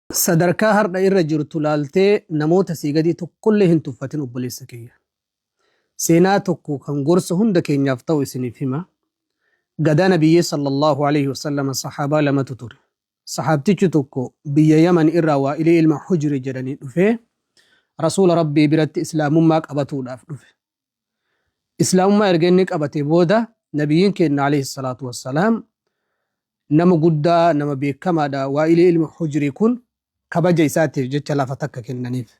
Sadarkaa hardha irra jirtu laaltee namoota sii gadii tokkollee hin tuffatin obboleessa kiyya. Seenaa tokko kan gorsa hunda keenyaaf ta'u isiniif hima. Gadaa nabiyyee sallallahu alayhi wasallam sahaabaa lamatu ture. Sahaabtichi tokko biyya Yaman irraa Waa'ilee ilma Hujri jedhanii dhufee Rasuula Rabbii biratti Islaamummaa qabatuudhaaf dhufe. Islaamummaa erga inni qabatee booda Nabiyyiin keenya alayhi salaatu wassalaam nama guddaa nama beekamaadha waa'ilee ilma hujrii kun kabaja isaatiif jecha lafa takka kennaniif.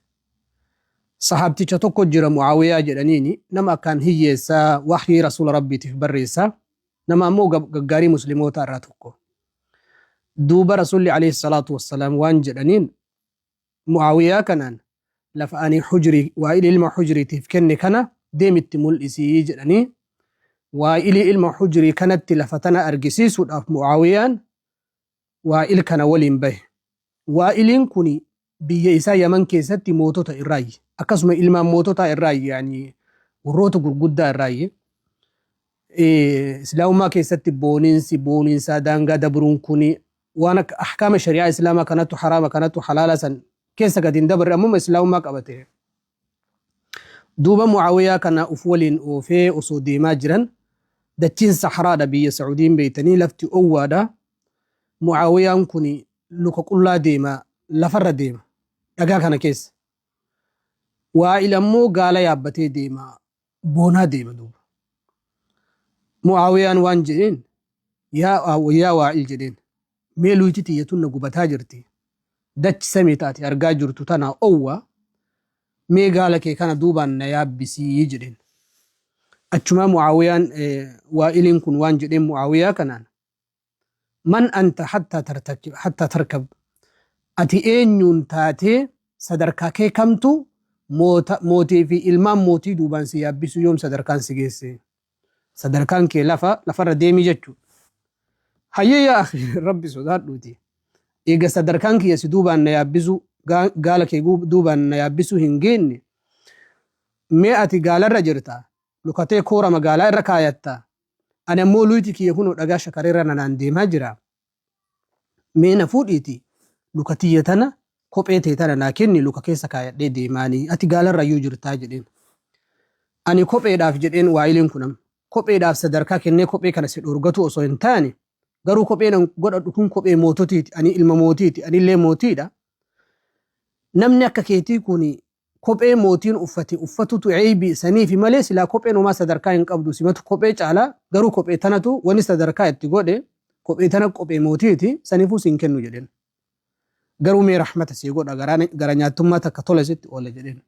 Sahaabticha tokko jira Mu'aawiyaa jedhaniini nama akkaan hiyyeessaa wahyii rasuula rabbiitiif barreessa nama ammoo gaggaarii muslimoota irraa tokko. Duuba rasuulli alayhi salaatu wassalaam waan jedhaniin Mu'aawiyaa kanaan, Lafa ani Hujri, Waa'il ilma Hujri, tiif kenne kana deemi itti mul'isi jedhanii Waa'ili ilma Hujri kanatti lafa tana argisiisuudhaaf Mu'aawiyaan Waa'il kana waliin bahe. Waa'iliin kuni biyya isaa Yaman keessatti mootota irraayyi. Akkasuma ilmaan moototaa irraayyi yaani warroota gurguddaa irraayyi. Islaamummaa keessatti booninsi, booninsaa daangaa dabruun kuni waan akka ahkaama shari'aa islaamaa kanatu haraama kanatu halaala san keessa gadi hin dabarre ammuma islaamummaa qabate duuba mucaawiyaa kana uf waliin oofee osoo deemaa jiran dachiin saharaadha biyya sacuudiin beeytanii lafti owwaadha mucaawiyaan kun luka qullaa deema lafarra deema dhagaa kana keessa waa'il ammoo gaala yaabbatee deema boonaa deema duuba. Mu'aawiyaan waan jedheen yaa yaa waa'il jedheen mee luyti tiyya tunna gubataa jirti dachi samii taati argaa jirtu tanaa owwa mee gaala kee kana duubaan na yaabbisii jedheen. Achumaa Mu'aawiyaan waa'iliin kun waan jedheen Mu'aawiyaa kanaan Man anta hattaa tartakib hattaa tarkab Ati eenyuun taatee sadarkaa kee kamtu moota mootii fi ilmaan mootii duubaan si yaabbisuu yoom sadarkaan si geesse sadarkaan kee lafa lafarra deemi jechu hayyee yaa akhi rabbi sodaadhuuti eega sadarkaan kiyya si duubaan na yaabbisuu gaa- gaala kee guu- duubaan na yaabbisuu hin geenne mee ati gaalarra jirta lukatee koora magaalaa irra kaayatta Ani ammoo luyti kiyya kunoo dhagaa shakareerra nanaan deemaa jira, mee na fuudhiitii luka tiyya tana kophee tee tana naa kenni luka keessa kaayadhee deemaanii ati gaalarrayyuu jirtaa jedheen. Ani kopheedhaaf jedheen waayileen kun amma kopheedhaaf sadarkaa kennee kophee kana si dhoorgatuu osoo hin taane garuu kopheen an godhadhu kun kophee moototiiti ani ilma mootiiti anillee mootiidha namni akka keetii kun kophee mootiin uffate uffatutu eybi saniifi malee silaa kopheen homaa sadarkaa hin qabdu simatu kophee caala garuu kophee tanatu wani sadarkaa itti godhe kophee tana qophee mootiiti sanifuu siin kennu jedhen garuu mee rahmata sii godha gara nyaattummaa takka tola sitti oola jedhen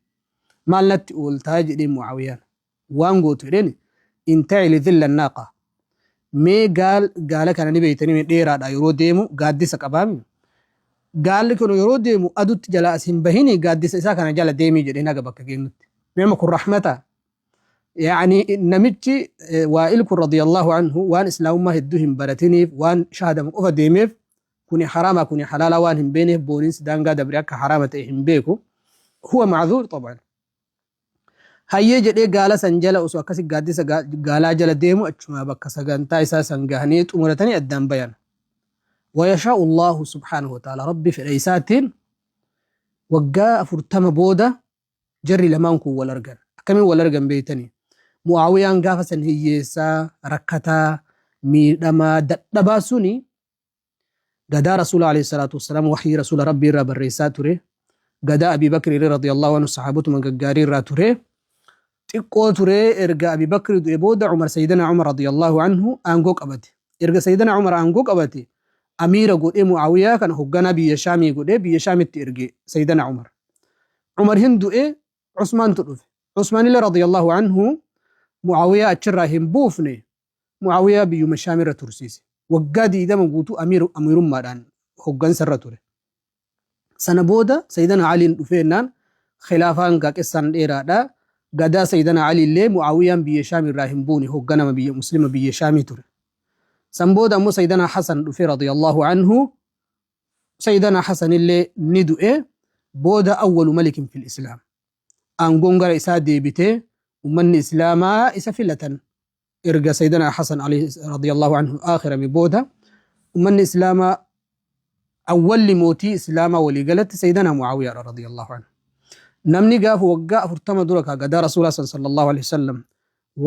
maal natti ooltaa jedheen mucaawiyaan waan gootu jedheen inta'ili dhilla naaqa mee gaal gaala kana ni beeytanii dheeraadha yeroo deemu gaaddisa qabaami gaalli kun yeroo deemu adutti jala as hin bahini gaaddisa isaa kana jala deemii jedheen haga bakka geennutti nama kun rahmata yaani namichi waa'il kun radiyallahu anhu waan islaamummaa hedduu hin baratiniif waan shahadamu qofa deemeef kuni haraama kuni halaala waan hin beeneef booniinsi daangaa dabre akka haraama ta'e hin beeku huwa macduur xabaan Hayyee jedhee gaala san jala osoo akkasi gaaddisa gaalaa jala deemu achumaa bakka sagantaa isaa san gahanii xumuratanii addaan bayan. Wayashaa'u Allaahu subhaanahu wa ta'aalaa Rabbi fedha isaatiin waggaa afurtama booda jarri lamaan kun wal argan. Akkamiin wal argan beeytanii? Mu'aawiyaan gaafa san hiyyeessaa, rakkataa, miidhamaa, dadhabaa suni Gadaa Rasuula Aleyhi Salaatu Wassalaam wahyii Rasuula Rabbii irraa barreessaa ture. Gadaa Abii Bakri irra radiyallahu anhu sahaabotuma gaggaarii irraa ture. Xiqqoo ture erga Abii Bakri du'e booda Umar Sayyidana Umar radiyallahu anhu aangoo qabate. Erga Sayyidana Umar aangoo qabate amiira godhee Mu'aawiyaa kana hogganaa biyya Shaamii godhee biyya Shaamitti erge Sayyidana Umar. Umar hin du'e Usmaantu dhufe. Usmaanillee radiyallahu anhu Mu'aawiyaa achirraa hin buufne Mu'aawiyaa biyyuma Shaam irra tursiise. Waggaa 20 guutuu Amiir, Amiirummaadhaan, hoggansa irra ture. Sana booda Sayyidana Aliin dhufee jennaan khilaafaan gaaqessaan dheeraadha. Gadaa Sayyidana Alii illee Mu'aawiyaan biyya Shaam irraa hin buune hogganama biyya Muslima biyya Shaamii ture. San booda ammoo Sayyidana Hasan dhufee radiyallahu anhu Sayyidana Hasan illee ni du'e booda awwalu malikin fil Islaam. aangoon gara isaa deebite ummanni islaamaa isa filatan erga sayyidina hasan ali radiyallahu anhu aakhirame booda ummanni islaamaa awwalli mootii islaamaa walii galatti sayyidina muawiyaa radiyallahu anhu namni gaafa waggaa afurtama dura kaa gadaa rasuulaa san sallallahu alaihi wasallam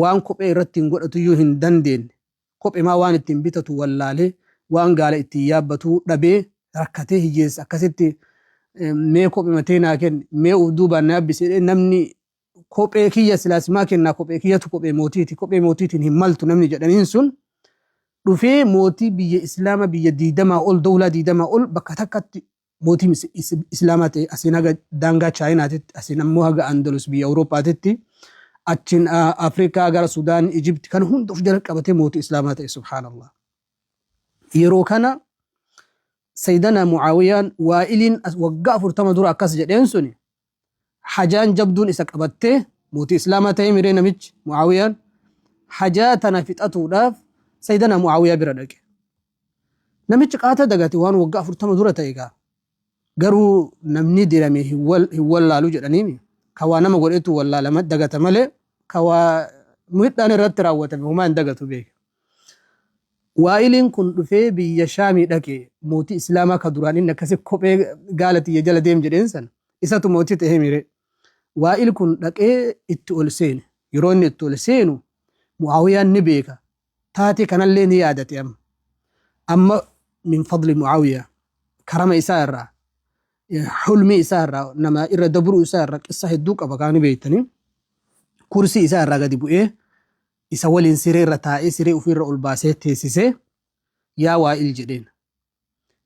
waan kophee irratti hin godhatu iyyuu hin dandeenye Kophemaa waan ittiin bitatu wallaalee, waan gaala ittiin yaabbatu dhabee rakkatee hiyyeessa akkasitti mee kophema tee naa kenni, mee uf duubaan na yaabbisi jedhee namni kophee kiyya silaa simaa kennaa kophee kiyyatu kophee mootiiti, kophee mootiitiin hin maltu namni jedhaniin sun dhufee mootii biyya Islaama biyya diidamaa ol dowlaa diidamaa ol bakka takkatti Mootii Islaamaa ta'e asiin haga daangaa Chaayinaatitti, asiin ammoo haga Andalus biyya Awurooppaatitti, achiin Afrikaa gara Sudaan, Ijibti kana hunda of jala qabatee mootii Islaamaa ta'e subhaanallah. Yeroo kana Sayyidana Mu'aawiyaan Waa'iliin waggaa afurtama dura akkas jedheen suni hajaan jabduun isa qabattee mootii islaamaa ta'ee miree namichi mu'aawiyaan hajaa tana fixatuudhaaf sayyidana mu'aawiyaa bira dhaqe namichi qaata dagate waan waggaa afurtama dura ta'e gaa garuu namni dirame hin wal- hin wallaalu jedhaniimi ka waa nama godhetu wallaalama dagata malee ka waa miidhaan irratti raawwatame homaa hin dagatu beeka Waa'iliin kun dhufee biyya Shaamii dhaqe, mootii Islaamaa ka duraan inni akkasi kophee gaala tiyya jala deem jedheen san, isatu mootii ta'eemii ree? Waa'il kun dhaqee itti ol seene. Yeroo inni itti ol seenu, Mu'aawiyaan ni beeka, taatee kanallee ni yaadate amma. Amma min fadli Mu'aawiyaa, karama isaa irraa, hulmii isaa irraa, nama irra dabruu isaa irraa qissa hedduu qaba kaa ni beektanii. Kursii isaa irraa gadi bu'ee, Isa waliin siree irra taa'ee siree ufii irra ol baasee teessisee, Yaa Waa'il jedheen.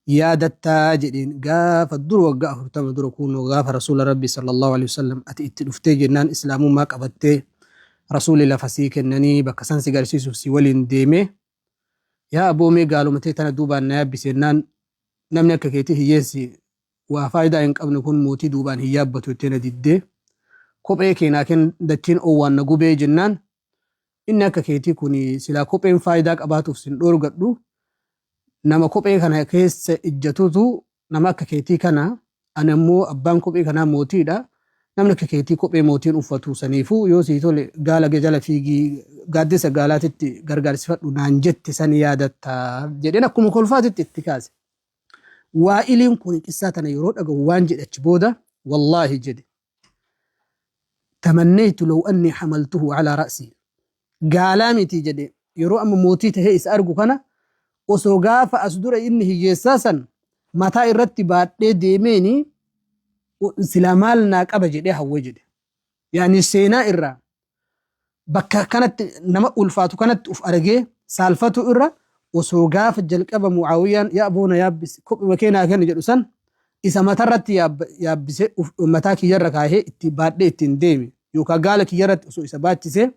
Yaadattaa? jedheen. Gaafa dur waggaa 40 dura kuunoo gaafa Rasuula Rabbii sallallahu aleyhi wasallam ati itti dhuftee jennaan Islaamummaa qabattee Rasuuli lafa sii kennanii bakka san si garsiisuuf si waliin deemee Yaa aboo mee gaaluma tee tana duubaan na yaabbisi jennaan namni akka keetii hiyyeensi Waa faayidaa hin qabne kun mootii duubaan hin yaabbatu jettee na diddee kophee kee naa kenn dachiin owwaan na gubee jennaan inni akka keetii kun silaa kopheen faayidaa qabaatuuf sin dhoorgadhu nama kophee kana keessa ijjatutu nama akka keetii kana ani ammoo abbaan kophee kanaa mootiidha namni akka keetii kophee mootiin uffatu saniifuu yoo sii tole gaala kee jala fiigii gaaddisa gaalaatitti gargaarsifadhu naan jette san yaadatta jedheen akkuma kolfaatitti itti kaase. Waa'iliin kun qissaa tana yeroo dhagahu waan jedhe achi booda, Wallaahi jedhe, Tamannaytu law annii hamaltuhu calaa ra'sii. Gaalaa miti jedhe, yeroo amma mootii tahee isa argu kana osoo gaafa as dura inni hiyyeessaa san mataa irratti baadhee deemeeni silaa maal naa qaba jedhee hawwe jedhe. Yaani seenaa irraa bakka kanatti nama ulfaatu kanatti uf argee saalfatu irra osoo gaafa jalqaba mucaawiyaan yaa boona yaabbis kophuma kee naa kenni jedhu san isa matarratti yaabbise mataa kiyyarra kaahee itti baadhee ittiin deeme yookaan gaala kiyyarratti osoo isa baachise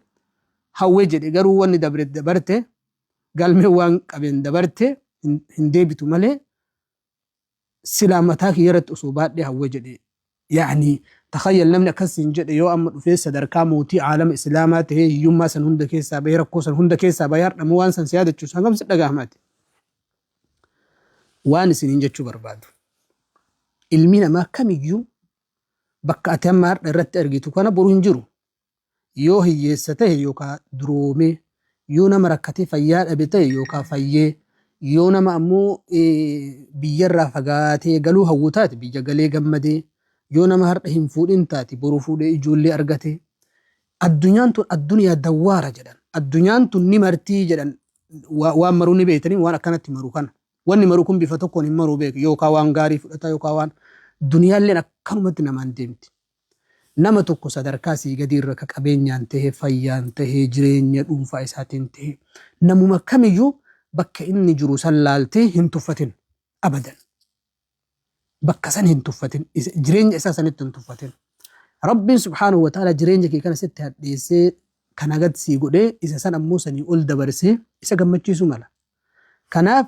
hawwee jedhe garuu wanni dabre dabarte galmee waan qabeen dabarte hin deebitu malee silaa mataa kiyya irratti osoo baadhee hawwa jedhe ya'ni takhayyal namni akkas siin jedhe yoo amma dhufee sadarkaa mootii aalama islaamaa tahee hiyyummaa san hunda keessaa bahee rakkoo san hunda keessaa bahee hardhamoo waan san si yaadachuus hangam si dhagahamaati waan isiniin jechuu barbaadu ilmi namaa kamiyyuu bakka ati amma hardha irratti argitu kana boru hin jiru yoo hiyyeessa tahe yookaa duroomee, yoo nama rakkatee fayyaa dhabe tahe yookaa fayyee, yoo nama ammoo biyyarraa fagaatee galuu hawwu taate biyya galee gammadee, yoo nama hardha hin fuudhin taate boru fuudhee ijoollee argatee. Addunyaan tun addunyaa dawwaara jedhan. Addunyaan tun ni martii jedhan waan maruu ni beeytanii waan akkanatti maru kana. Wanni maru kun bifa tokkoon hin maruu beeka yookaa waan gaarii fudhata yookaa waan duniyaalleen akkanumatti namaan deemti. Nama tokko sadarkaa sii gadii irra ka qabeenyaan tahee, fayyaan tahee, jireenya dhuunfaa isaatiin tahee, namuma kamiyyuu bakka inni jiru san laaltee hin tuffatin. Abadan. Bakka san hin tuffatin. Isa- Jireenya isaa sanitti hin tuffatin. Rabbiin subhaanahu wa ta'ala jireenya kee kana sitti hadheessee kana gad sii godhee isa san ammoo sanii ol dabarsee isa gammachiisuu mala. Kanaaf